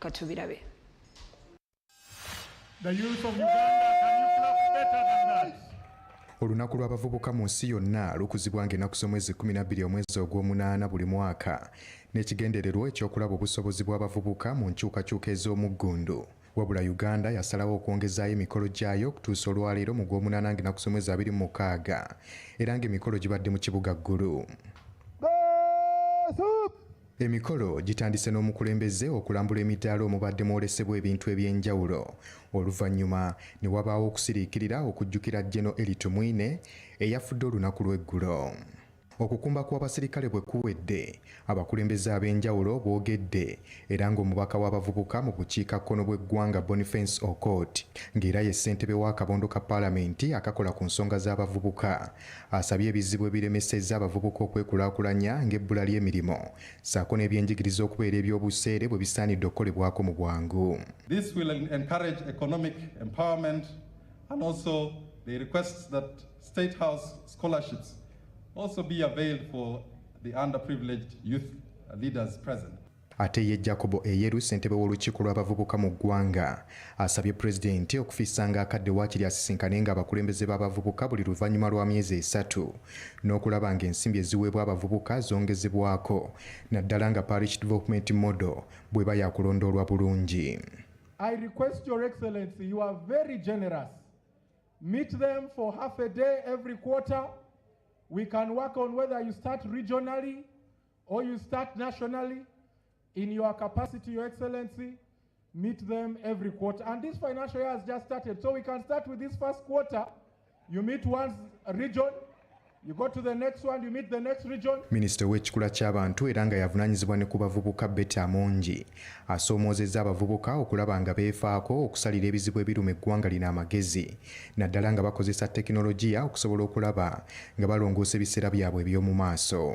katubirabe The youth of Uganda, can you clap better than that? olunaku lw'abavubuka mu nsi yonna lukuzibwanga ennaku z'omwezi 12 omwezi ogw'omunaana buli mwaka n'ekigendererwa ekyokulaba obusobozi bw'abavubuka mu nkyukakyuka ez'omuggundu wabula uganda yasalawo okwongezaayo emikolo gyayo okutuusa olwaleero mu gw'omunaana ng'ennaku z'omwezi 26 era ng'emikolo gibadde mu kibuga ggulu Emikolo gitandise n'omukulembeze okulambula emidaala omubadde mwolesebwa ebintu eby'enjawulo oluvannyuma ne wabaawo okusiriikirira okujjukira Geno Eli Tumwine eyafudde olunaku lw'eggulo. Okukumba kw'abasirikale bwe kuwedde, abakulembeze ab'enjawulo boogedde era ng'omubaka w'abavubuka mu bukiikakkono bw'eggwanga Boniface Okot ng'era ye ssentebe w'akabondo ka paalamenti akakola ku nsonga z'abavubuka Asabye ebizibu ebiremesezza abavubuka okwekulaakulanya ng'ebbula ly'emirimu ssaako n'ebyenjigiriza okubeera eby'obuseere bwe bisaanidde okukolebwako mu bwangu. This will encourage economic empowerment and also they request that State House scholarships also be availed for the underprivileged youth leaders present. Ate ye Jacob Eyeru ssentebe w'olukiiko lw'abavubuka mu ggwanga asabye pulezidenti okufissanga akadde waakiri asisinkanenga abakulembeze b'abavubuka buli luvannyuma lwa myezi esatu n'okulaba ng'ensimbi eziweebwa abavubuka zongezebwako naddala nga Parish Development Model bw'eba yakulondoolwa bulungi. I request your excellency you are very generous meet them for half a day every quarter we can work on whether you start regionally Or you start nationally in your capacity, Your Excellency, meet them every quarter. And this financial year has just started, so we can start with this first quarter. You meet one region, You go to the next one, you meet the next region. Minister w'ekikula ky'abantu era nga yavunanyizibwa ne ku bavubuka Betty Amongi asoomoozezza abavubuka okulaba nga beefaako okusalira ebizibu ebiruma eggwanga lino amagezi naddala nga bakozesa tekinologiya okusobola okulaba nga balongoosa ebiseera byabwe eby'omu maaso.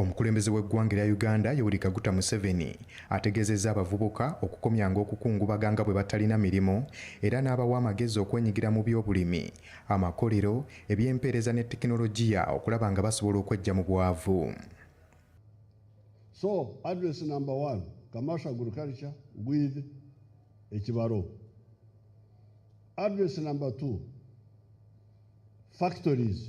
Omukulembeze w'eggwanga erya Uganda Yoweri Kaguta Museveni ategeezezza abavubuka okukomyanga okukungubaga nga bwe batalina mirimu era n'abawa amagezi okwenyigira mu by'obulimi, amakolero, eby'empeereza ne tekinologiya okulaba nga basobola okweggya mu bwavu. So, address number one, commercial agriculture with ekibalo. Address number two, factories.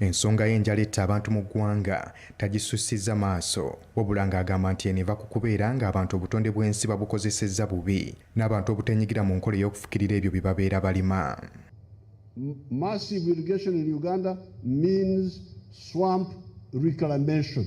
Ensonga y'enjala etta abantu mu ggwanga tagisussizza maaso wabula ng'agamba nti eno eva ku kubeera ng'abantu obutonde bw'ensi babukozesezza bubi n'abantu obuteenyigira mu nkola ey'okufukirira ebyo bye babeera balima. Massive irrigation in Uganda means swamp reclamation.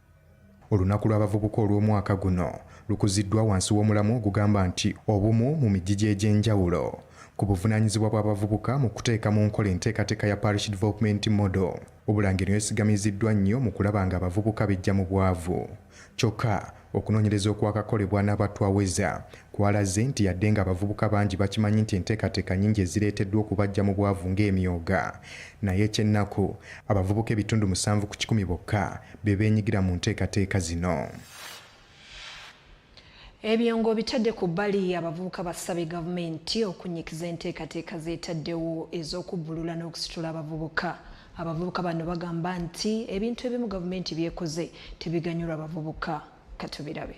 Olunaku lw'abavubuka olw'omwaka guno lukuziddwa wansi w'omulamwa ogugamba nti Obumu mu mijiji egy'enjawulo ku buvunaanyizibwa bw'abavubuka mu kuteeka mu nkola enteekateeka ya Parish Development Model. Obulange eno yesigamiziddwa nnyo mu kulaba ng'abavubuka beggya mu bwavu. Kyokka, okunoonyereza okwakakolebwa n'abatwaweza Kwalaze nti yadde ng'abavubuka bangi bakimanyi nti enteekateeka nyingi ezireeteddwa okubaggya mu bwavu ng'emyooga, naye eky'ennaku abavubuka ebitundu musanvu ku kikumi bokka be beenyigira mu nteekateeka zino. Ebyo ng'obitadde ku bbali, abavubuka basabye gavumenti okunnyikiza enteekateeka z'etaddewo ez'okubbulula n'okusitula abavubuka. Abavubuka bano bagamba nti ebintu ebimu gavumenti by'ekoze tebiganyula bavubuka. Katubirabe.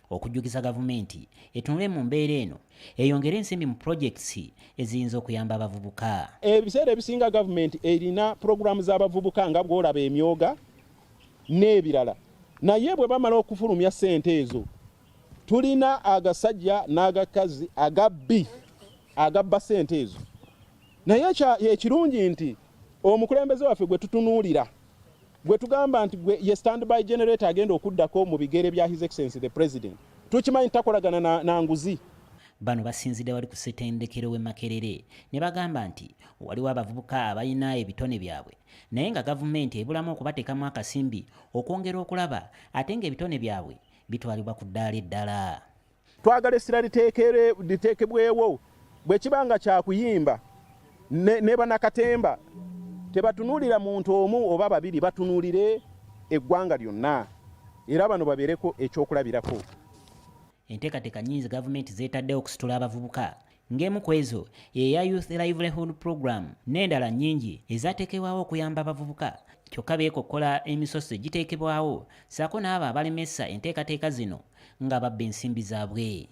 okujjukiza gavumenti etunule mu mbeera eno eyongere ensimbi mu projects eziyinza okuyamba abavubuka. Ebiseera ebisinga gavumenti erina pulogulaamu z'abavubuka nga bw'olaba emyoga n'ebirala, naye bwe bamala okufulumya ssente ezo tulina agasajja n'agakazi agabbi agabba ssente ezo. Naye ekirungi nti omukulembeze waffe gwe tutunuulira gwe tugamba nti gwe ye standby generator agenda okuddako mu bigere bya his excellency the president tukimanyi takolagana na, na nguzi bano basinzidde wali ku setendekero we makerere ne bagamba nti waliwo abavubuka abalina ebitone byabwe naye nga gavumenti ebulamu okubateekamu akasimbi okwongera okulaba ate nga ebitone byabwe bitwalibwa ku ddaala eddala twagala essira liteekebwewo bwe kiba nga kyakuyimba ne banakatemba tebatunuulira muntu omu oba babiri batunuulire eggwanga lyonna era bano babeereko ekyokulabirako enteekateeka nnyingi gavumenti zeetaddewo okusitula abavubuka ng'emu ku ezo yeya Youth Livelihood Program n'endala nnyingi ezateekebwawo okuyamba abavubuka kyokka beekokkola emisoso egiteekebwawo ssaako n'abo abalemesa enteekateeka zino nga babba ensimbi zaabwe.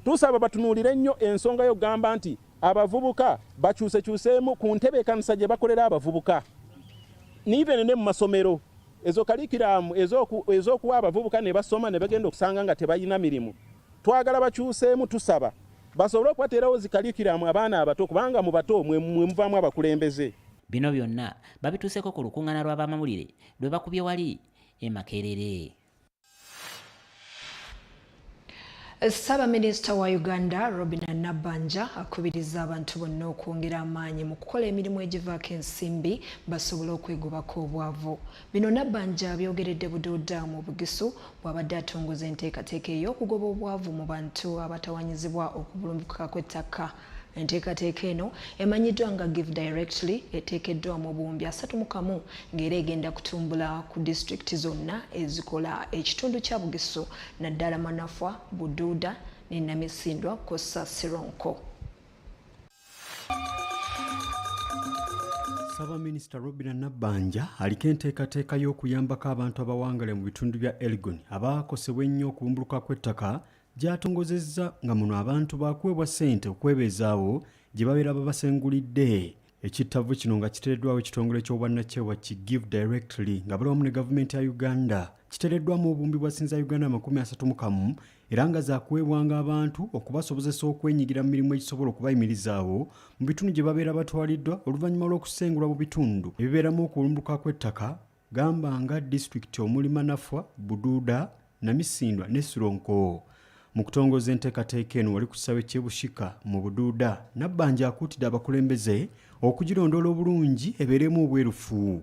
Tusaba batunuulire nnyo ensonga y'okugamba nti abavubuka bakyusekyuseemu ku ntebeekanisa gye bakolera abavubuka niven ne mu masomero ezo kalikiramu ez'okuwa abavubuka ne basoma ne bagenda okusanga nga tebalina mirimu twagala bakyuseemu tusaba basobole okubateerawo zi kalikiramu abaana abato kubanga mu bato mwe muvaamu abakulembeze. Bino byonna babituuseko ku lukung'ana lw'abamawulire lwe bakubye wali e Makerere. Ssaabaminisita wa Uganda Robina Nabbanja akubiriza abantu bonna okwongera amaanyi mu kukola emirimu egivaako ensimbi basobole okwegobako obwavu. Bino Nabbanja abyogeredde Bududa mu Bugisu bw'abadde atongoza enteekateeka ey'okugoba obwavu mu bantu abatawanyizibwa okubulumbukuka kw'ettaka. Enteekateeka eno emanyiddwa nga Give Directly eteekeddwa mu buwumbi asatu mu kamu ng'era egenda kutumbula ku disitulikiti zonna ezikola ekitundu kya Bugisu naddala Manafwa, Bududa ne Namisindwa kw'ossa Sironko. Ssaabaminisita Robina Nabbanja aliko enteekateeka y'okuyambako abantu abawangale mu bitundu bya Elgon abaakosebwa ennyo okubumbuluka kw'ettaka gy'atongozezza nga muno abantu baakuweebwa ssente okwebeezaawo gye babeera babasengulidde ekittavvu kino nga kiteereddwawo ekitongole ky'obwannakyewa ki give directly nga bali wamu ne gavumenti ya uganda kiteereddwamu obumbi bwa sinza uganda amakumi asatu mu kamu era nga zakuweebwanga abantu okubasobozesa okwenyigira mu mirimu egisobola okubayimirizaawo mu bitundu gye babeera batwaliddwa oluvannyuma lw'okusengulwa mu bitundu ebibeeramu okulumbuka kw'ettaka gamba nga disitulikiti omuli manafwa buduuda namisindwa ne sironko mu kutongoza enteekateeka eno wali ku kisawe ky'ebushika mu buduuda nabbanja akuutidde abakulembeze okugirondoola obulungi ebeeremu obwerufu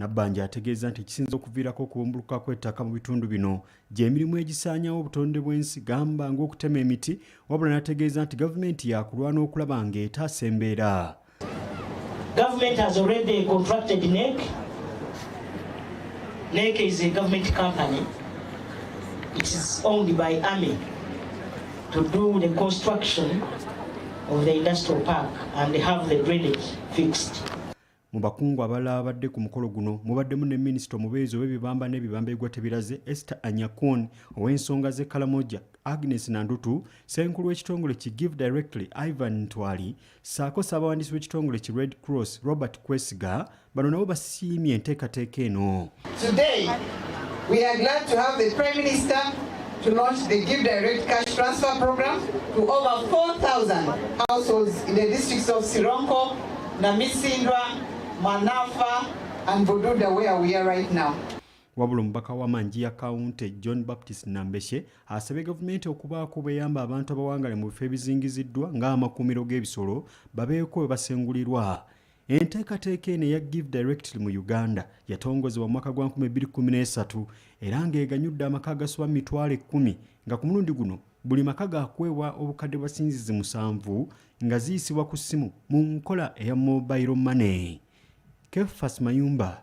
Nabbanja ategeeza nti ekisinza okuviirako okubumbuluka kw'ettaka mu bitundu bino gy'emirimu egisaanyawo obutonde bw'ensi gamba ng'okutema emiti wabula n'ategeeza nti gavumenti yaakulwana okulaba ng'etaasa embeera Government has already contracted NEC. NEC is a government company. It is owned by Army to do the construction of the industrial park and have the drainage fixed. Mu bakungu abalala abadde ku mukolo guno mubaddemu ne minisita omubeezi ow'ebibamba n'ebibamba ebigwa tebiraze Esther Anyakun ow'ensonga z'e Kalamoja Agnes Nandutu ssenkulu w'ekitongole ki Give Directly Ivan Ntwali ssaako ssaabawandiisi w'ekitongole ki Red Cross Robert Kwesiga bano nabo basiimye enteekateeka eno. Today, we are glad to have the Prime Minister to launch the Give Direct Cash Transfer Program to over 4,000 households in the districts of Sironko, Namisindwa, Manafa, and Bududa, where we are right now. wabula omubaka wa manjiya kawunti john baptist nambeshe asabye gavumenti okubaako beyamba abantu abawangale mu bifo ebizingiziddwa ng'amakuumiro g'ebisolo babeeko we basengulirwa Enteekateeka eno eya Give Directly mu Uganda yatongozebwa mu mwaka gwa 2013 era ng'eganyudde amaka agasoba mu mitwalo ekkumi nga ku mulundi guno buli maka gaakuweebwa obukadde bwa sinzizi musanvu nga ziyisibwa ku ssimu mu nkola eya mobile money. Kefas Mayumba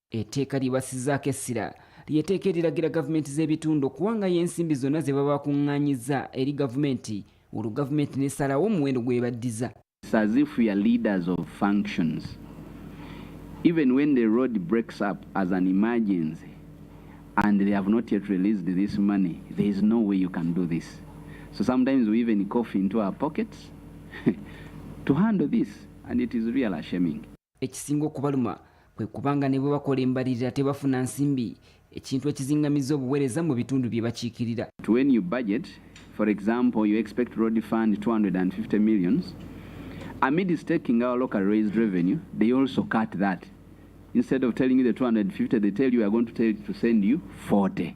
Etteeka lyebasizaako essira lyeteeka eriragira gavumenti z'ebitundu okuwangayo ensimbi zonna ze baba bakuŋŋaanyizza eri gavumenti olwo gavumenti n'esalawo omuwendo gwebaddiza as if we are leaders of functions even when the road breaks up as an emergency and they have not yet released this money there is no way you can do this so sometimes we even cough into our pockets to handle this and it is real shaming Ekisinga okubaluma kwe kuba nga ne bwe bakola embalirira tebafuna nsimbi ekintu ekizingamiza obuweereza mu bitundu bye bakiikirira. To when you budget, for example, you expect road fund 250 millions, amidst taking our local raised revenue, they also cut that. Instead of telling you the 250, they tell you we are going to, tell, to send you 40.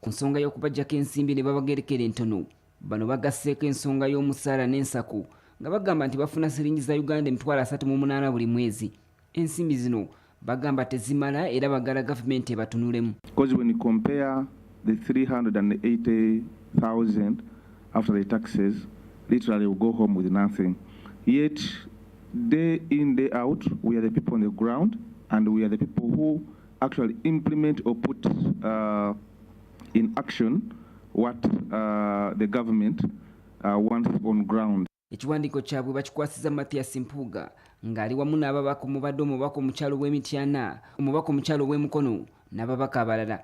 Ku nsonga y'okubajjako ensimbi ne babagerekera entono, bano bagasseeko ensonga y'omusaala n'ensako nga bagamba nti bafuna siringi za Uganda emitwalo asatu mu munaana buli mwezi. Ensimbi zino bagamba tezimala era bagala gavumenti ebatunulemu. Because when you compare the 380,000 after the taxes, literally we go home with nothing. Yet day in day out we are the people on the ground and we are the people who actually implement or put uh, in action what uh, the government uh, wants on ground. Ekiwandiiko kyabwe bakikwasiza Mathias Mpuuga ng'ali wamu n'ababaka omubadde omubaka omukyalo w'e Mityana, omubaka omukyalo w'e Mukono n'ababaka abalala.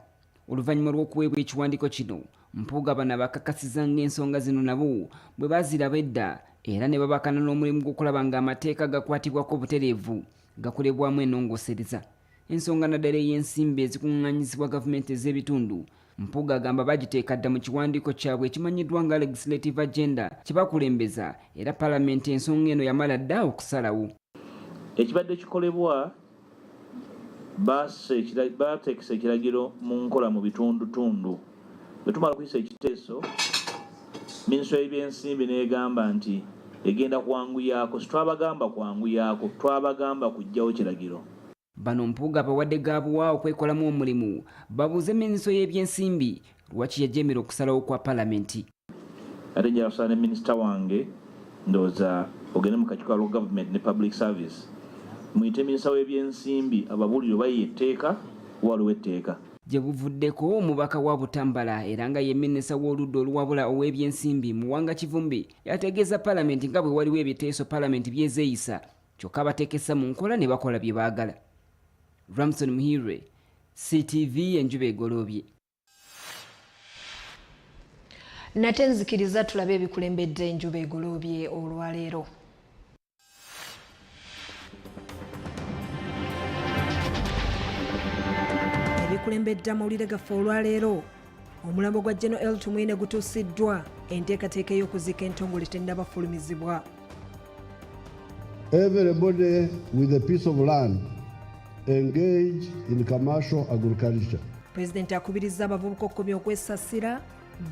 Oluvannyuma lw'okuweebwa ekiwandiiko kino, Mpuuga bano abakakasiza ng'ensonga zino nabo bwe baziraba edda era ne babakana n'omulimu gw'okulaba ng'amateeka gakwatibwako obutereevu gakolebwamu enongosereza. ensonga naddala ey'ensimbi ezikunganyizibwa gavumenti ez'ebitundu mpuga agamba bagiteeka dda mu kiwandiiko kyabwe ekimanyiddwa nga legislative agenda kyebakulembeza era palamenti ensonga eno yamala dda okusalawo ekibadde kikolebwa baateekesa ekiragiro mu nkola mu bitundutundu Bwe tumala okuyisa ekiteeso, minisitule y'ebyensimbi n'egamba nti egenda kwanguyaako, sitwabagamba kwanguyaako, twabagamba kuggyawo kiragiro. Bano Mpuuga abawadde ga buwa okwekolamu omulimu babuuze minisitule y'ebyensimbi lwaki yajeemera okusalawo kwa palamenti. ate nja kusala ne minisita wange ndowooza ogende mu kakiiko alwo government ne public service muyite minisita w'ebyensimbi ababuulire oba ye etteeka waliwo etteeka Gye buvuddeko omubaka wa Butambala era nga ye minisita w'oludda oluwabula ow'ebyensimbi Muwanga Kivumbi yategeeza palamenti nga bwe waliwo ebiteeso palamenti byezeeyisa kyokka batekesa mu nkola ne bakola bye baagala. Ramson Muhirwe, CTV enjuba egoloobye. nate nzikiriza tulabe ebikulembedde enjuba egoloobye olwaleero ebikulembedde amawulire gaffe olwaleero omulambo gwa geno el tumwine gutuusiddwa enteekateeka ey'okuziika entongole tennabafulumizibwa Everybody with a piece of land engage in commercial agriculture. President akubirizza abavubuka okukomya okwesasira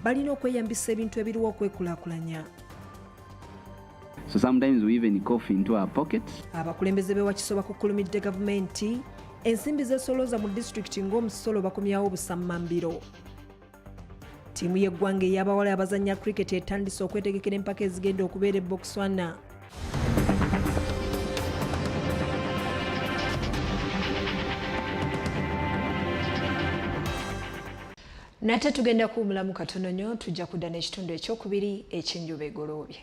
balina okweyambisa ebintu ebiriwo okwekulakulanya. So sometimes we even cough into our pockets. Abakulembeze be wakiso bakukulumidde gavumenti ensimbi zesolooza mu disitulikiti ng'omusolo bakomyawo obusammambiro. Ttiimu y'eggwanga ey'abawala abazannya cricket etandise okwetegekera empaka ezigenda okubeera e Botswana. nate tugenda kuwumulamu katono nnyo tujja kudda n'ekitundu ekyokubiri eky'enjuba egoloobye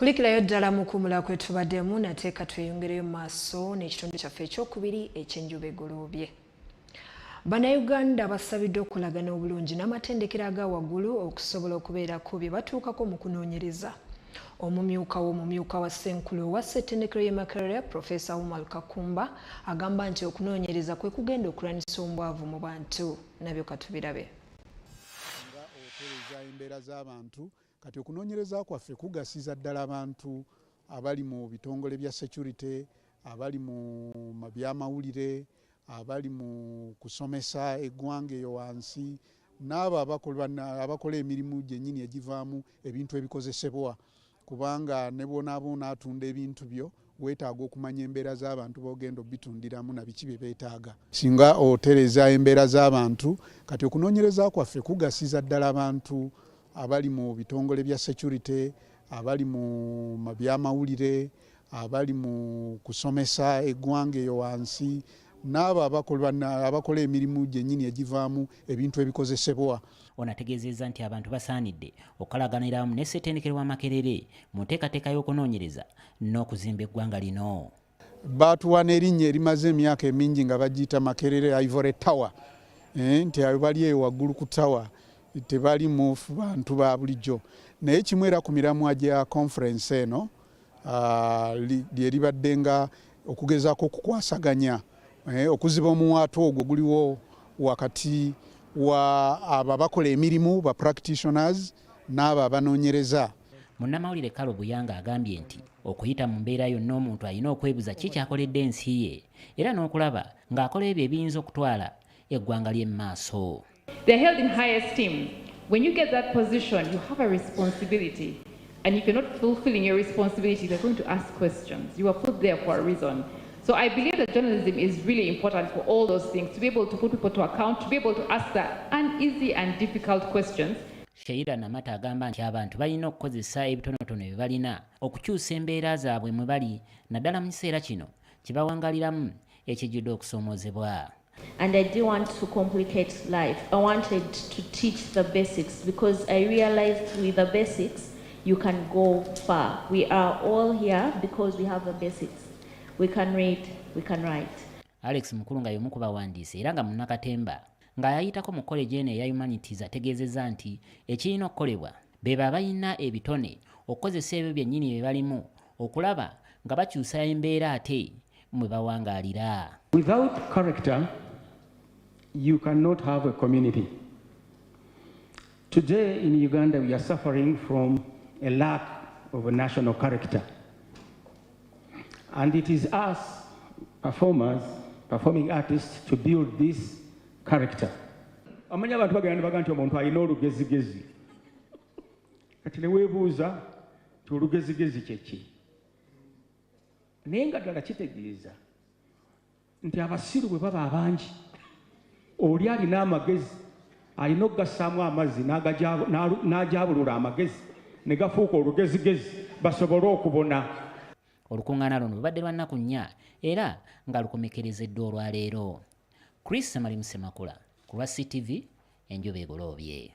kulikirayo ddala mukumula kwetubaddemu nate ka tweyongereyo mu maaso n'ekitundu kyaffe ekyokubiri ekyenjuba egoloobye bannayuganda basabiddwa okulagana obulungi n'amatendekero aga waggulu okusobola okubeerako bye batuukako mu kunoonyereza Omumyuka w'omumyuka wa Ssenkulu owa Ssetendekero y'e Makerere, Profesa Umar Kakumba agamba nti okunoonyereza kwe kugenda okulwanyisa ombwavu mu bantu. Nabyo katubirabe. Nga otereza embeera z'abantu, kati okunoonyereza kwaffe kugasiza ddala abantu abali mu bitongole bya securite, abali mu byamawulire, abali mu kusomesa eggwanga eyo wansi n'abo abakola emirimu gyennyini egivaamu ebintu ebikozesebwa kubanga ne bwonaaba onaatunda ebintu byo weetaaga okumanya embeera z'abantu b'ogenda obitundiramu na biki bye beetaaga singa otereeza embeera z'abantu kati okunoonyereza kwaffe kugasiza ddala abantu abali mu bitongole bya security abali mu byamawulire abali mu kusomesa eggwanga eyo wansi n'abo abakola emirimu gyennyini egivaamu ebintu ebikozesebwa ono ategeezezza nti abantu basaanidde okukalaganira wamu ne ssetendekero wa makerere mu nteekateeka y'okunoonyereza n'okuzimba eggwanga lino baatuwa n'erinnya erimaze emyaka emingi nga bagiyita makerere ivory tower eh, nti ayo bali eyo waggulu ku tawa tebali mu bantu ba bulijjo naye kimu era ku miramwa gya conference eno ah, lye libadde nga okugezaako okukwasaganya eh, okuziba omuwaatu ogwo guliwo wakati wa abo abakola emirimu ba practitioners n'abo abanoonyereza munnamawulire kalo buyanga agambye nti okuyita mu mbeera yonna omuntu alina okwebuza ki kyakoledde ensi ye era n'okulaba ng'akola ebyo ebiyinza okutwala eggwanga lye mu maaso They're held in high esteem. When you get that position, you have a responsibility. And if you're not fulfilling your responsibility, they're going to ask questions. You were put there for a reason. So I believe that journalism is really important for all those things, to be able to put people to account, to be able to ask the uneasy and difficult questions. Sheila Namata agamba nti abantu balina okukozesa ebitonotono bye balina okukyusa embeera zaabwe mwe bali naddala mu kiseera kino kibawangaliramu ekijjudde okusoomoozebwa. And I didn't want to complicate life. I wanted to teach the basics because I realized with the basics, you can go far. We are all here because we have the basics. We can read, we can write. Alex Mukulu nga y'omu ku bawandiisi era nga munnakatemba ng'ayayitako mu college eno eya humanities ategeezezza nti ekirina okukolebwa bebo abalina ebitone okukozesa ebyo byennyini bye balimu okulaba nga bakyusa embeera ate mwe bawangaalira without character you cannot have a community today in uganda we are suffering from a lack of a national character and it is us performers performing artists to build this character amanya abantu bagenda baga nti omuntu alina olugezigezi kati newebuuza olugezigezi kyeki naye nga ddala kitegeeza nti abasiru bwe baba abangi oli alina amagezi alina okugassaamu amazzi n'ajabulula amagezi ne gafuuka olugezigezi basobole okubona olukuŋŋaana luno lubadde lwa nnaku nnya era nga lukomekerezeddwa olwaleero chris samali musemakula ku lwa ctv enjuba egoloobye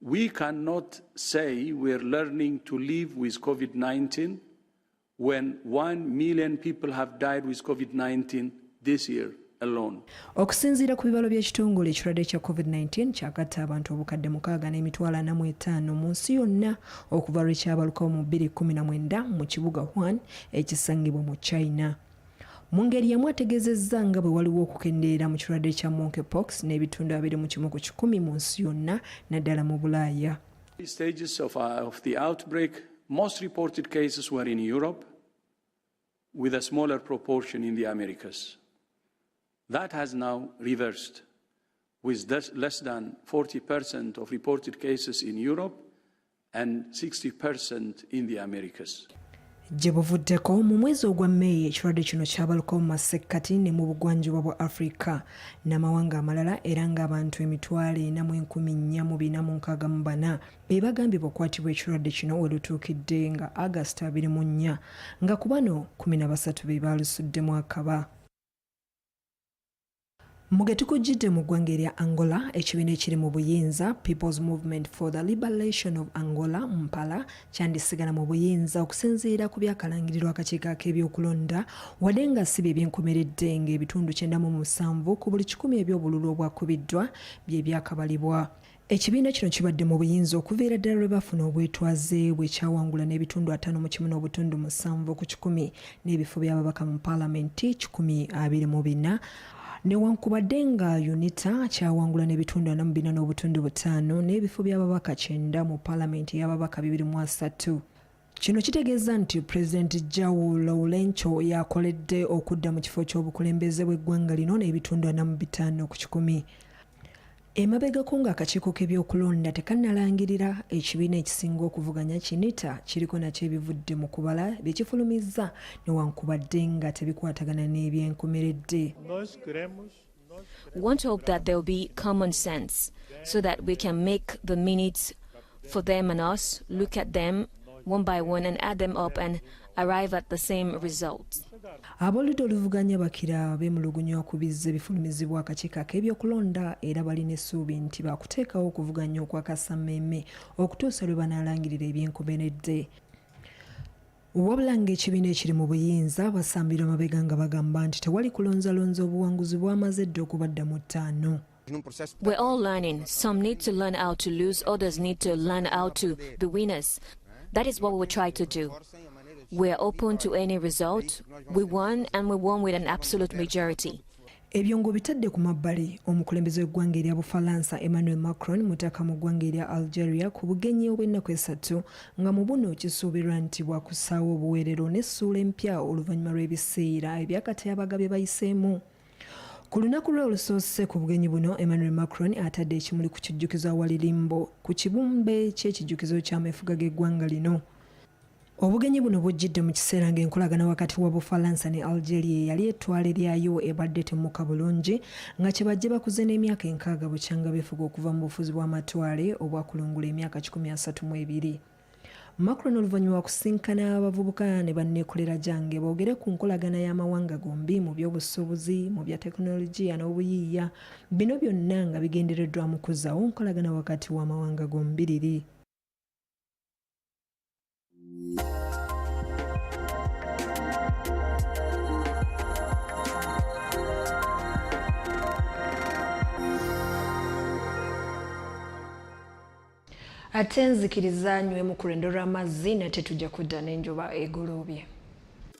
We cannot say we are learning to live with COVID 19 when 1 million people have died with COVID 19 this year. okusinziira ku bibalo by'ekitongole ekirwadde kya covid-19 kyagatta abantu obukadde mukaaga n'emitwalo ana mu etaano mu nsi yonna okuva lwe kyabalukawo mu 219 mu kibuga hwan ekisangibwa mu china Mu ngeri y'emu ategeezezza nga bwe waliwo okukendeera mu kirwadde kya monkeypox n'ebitundu abiri mu kimu ku kikumi mu nsi yonna naddala mu Bulaaya. Stages of, uh, of the outbreak, most reported cases were in Europe with a smaller proportion in the Americas. That has now reversed with less than 40% of reported cases in Europe Gye buvuddeko mu mwezi ogwa May ekirwadde kino kyabalukawo mu masekkati ne mu bugwanjuba bwa Afrika n'amawanga amalala era ng'abantu emitwalo ena mu enkumi nnya mu bina mu nkaaga mu bana be bagambibwa okukwatibwa ekirwadde kino we lutuukidde nga August abiri mu nnya nga ku bano kkumi na basatu be baalusuddemu akaba. Mugetukujjidde mu ggwanga erya Angola ekibiina ekiri mu buyinza People's Movement for the Liberation of Angola Mpala kyandisigala mu buyinza okusinziira ku byakalangirirwa akakiiko ak'ebyokulonda wadde nga si bye byenkomeredde ng'ebitundu kyenda mu musanvu ku buli kikumi eby'obululu obwakubiddwa bye byakabalibwa. Ekibiina kino kibadde mu buyinza okuviira ddala lwe baafuna obwetwaze bwe kyawangula n'ebitundu ataano mu kimu n'obutundu musanvu ku kikumi n'ebifo by'ababaka mu paalamenti kikumi abiri mu bina newankubadde nga unita kyawangula n'ebitundu ana mu bina n'obutundu butaano n'ebifo by'ababaka kyenda mu paalamenti ey'ababaka bibiri mu asatu Kino kitegeeza nti Pulezidenti João Lourenço yakoledde okudda mu kifo ky'obukulembeze bw'eggwanga lino n'ebitundu ana mu bitaano ku kikumi. Emabegako ng'akakiiko k'ebyokulonda tekannalangirira, ekibiina ekisinga okuvuganya Kinita kiriko nakyo ebivudde mu kubala bye kifulumizza newankubadde nga tebikwatagana n'ebyenkomeredde. want to hope that there will be common sense so that we can make the minutes for them and us, look at them one by one and add them up and arrive at the same result. aboludda oluvuganya bakira beemulugunya okubizza ebifulumizibwa akakiiko ak'ebyokulonda era balina essuubi nti baakuteekawo okuvuganya okwakasammeeme okutuusa lwe banaalangirira ebyenkomeredde Wabula ng'ekibiina ekiri mu buyinza basambira mabega nga bagamba nti tewali kulonzalonza obuwanguzi bwamaze dda okubadda mu ttaano. We're all learning. Some need to learn how to lose, others need to learn how to be winners. That is what we will try to do. We are open to any result. We won and we won with an absolute majority. Ebyo ng'obitadde ku mabbali, omukulembeze w'eggwanga erya Bufalansa Emmanuel Macron mutaka mu ggwanga erya Algeria ku bugenyi obw'ennaku esatu nga mu buno kisuubirwa nti bwakussaawo obuweerero n'essuula empya oluvannyuma lw'ebiseera ebyakatyabaga bye bayiseemu. Ku lunaku lwe olusoose ku bugenyi buno, Emmanuel Macron atadde ekimuli ku kijjukizo awali limbo ku kibumbe ky'ekijjukizo ky'ameefuga g'eggwanga lino. Obugenyi buno bujjidde mu kiseera ng'enkolagana wakati wa Bufalansa ne Algeria eyali ettwale lyayo ebadde temmuka bulungi nga kye bajje bakuze n'emyaka enkaaga bukyanga befuga okuva mu bufuzi bw'amatwale obwakulungula emyaka kikumi asatu mu ebiri. Macron oluvannyuma wakusinkana abavubuka ne banneekolera gyange boogere ku nkolagana y'amawanga gombi mu by'obusuubuzi mu bya tekinologiya n'obuyiiya bino byonna nga bigendereddwamu kuzzaawo nkolagana wakati w'amawanga gombiriri. ate nzikiriza nywemu ku lwendo lw'amazzi nate tujja kudda n'enjuba egoloobye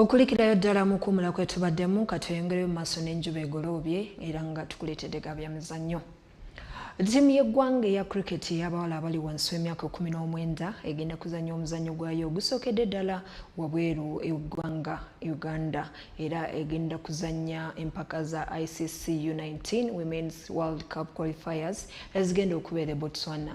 okulikirayo ddala mu kuwumula kwetubaddemu katweyongereyo mu maaso n'enjuba egoloobye era nga tukuleetedde ga byamizannyo Ttiimu y'eggwanga eya cricket ey'abawala abali wansi w'emyaka kumi n'omwenda egenda kuzannya omuzannyo gwayo ogusookedde ddala wabweru eggwanga Uganda era egenda kuzannya empaka za ICC U19 Women's World Cup Qualifiers ezigenda okubeera e Botswana.